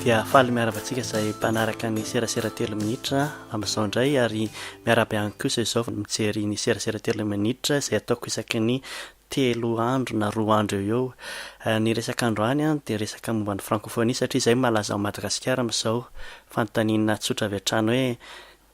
dia faly miaraba antsika izay mpanaraka ny serasera telo minitra amin'izao indray ary miaraba ihany kosa izao mijery ny serasera telo minitra izay ataoko isaky ny telo andro na roa andro eo eo eh, ny resaka andro any an dia resaka momba ny frankofonia satria izay malaza ao madagasikara amin'izao fanontaniana tsotra avy hatrany hoe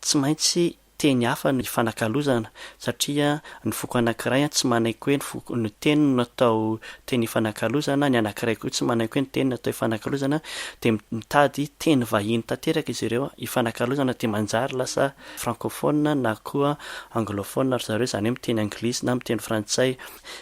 Tsy maintsy teny hafa no hifanakalozana satria ny foko anankiray tsy manaiky hoe ny foko, ny teniny no atao teny hifanakalozana, ny anankiray koa tsy manaiky hoe ny teniny no atao hifanakalozana dia mitady teny vahiny tanteraka izy ireo hifanakalozana dia manjary lasa francophone na koa anglophone ry zareo izany hoe miteny anglisy na miteny frantsay.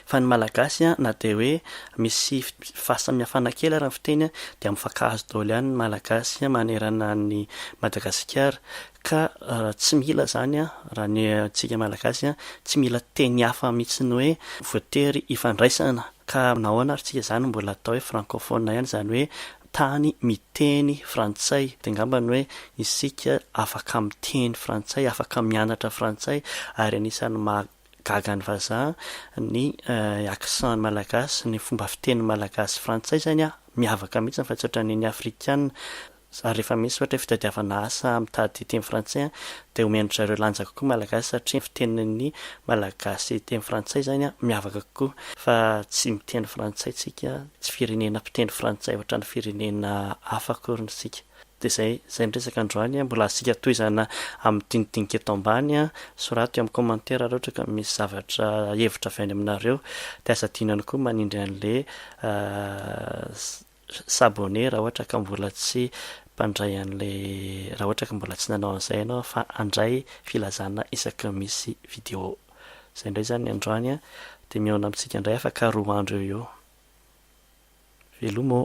Fa ny Malagasy na dia hoe misy fahasamihafana kely ary ny fiteny dia mifankahazo daholo ihany ny Malagasy manerana an'i Madagasikara ka tsy mila izany raha ny antsika Malagasy tsy mila teny hafa mihitsy hoe voatery hifandraisana ka nahoana ary tsika izany mbola atao hoe francophone ihany izany hoe tany miteny frantsay dia angamba ny hoe isika afaka miteny frantsay afaka mianatra frantsay ary anisan'ny maha Gaga ny vazaha, ny accent malagasy, ny fomba fiteny malagasy sy frantsay izany miavaka mihitsy fa tsy ohatran'ny ny afrikana. Ary rehefa misy ohatra hoe fitadiavana asa mitady teny frantsay dia omen-dry zareo lanja kokoa malagasy satria ny fitenin'ny malagasy teny frantsay izany miavaka kokoa fa tsy miteny frantsay isika, tsy firenena mpiteny frantsay ohatran'ny firenena hafa akoriny isika. Dia izay izay ny resaka androany, mbola asiaka tohizana amin'ny dinidinika eto ambany, soraty eo amin'ny commentaire raha ohatra ka misy zavatra hevitra avy any aminareo, dia aza adino ihany koa manindry an'le s'abonner raha ohatra ka mbola tsy mpandray an'le raha ohatra ka mbola tsy nanao an'izay ianao fa handray filazana isaky ny misy vidéo. Izay indray izany ny androany dia mihaona amintsika indray afaka roa andro eo ho eo. Veloma ô!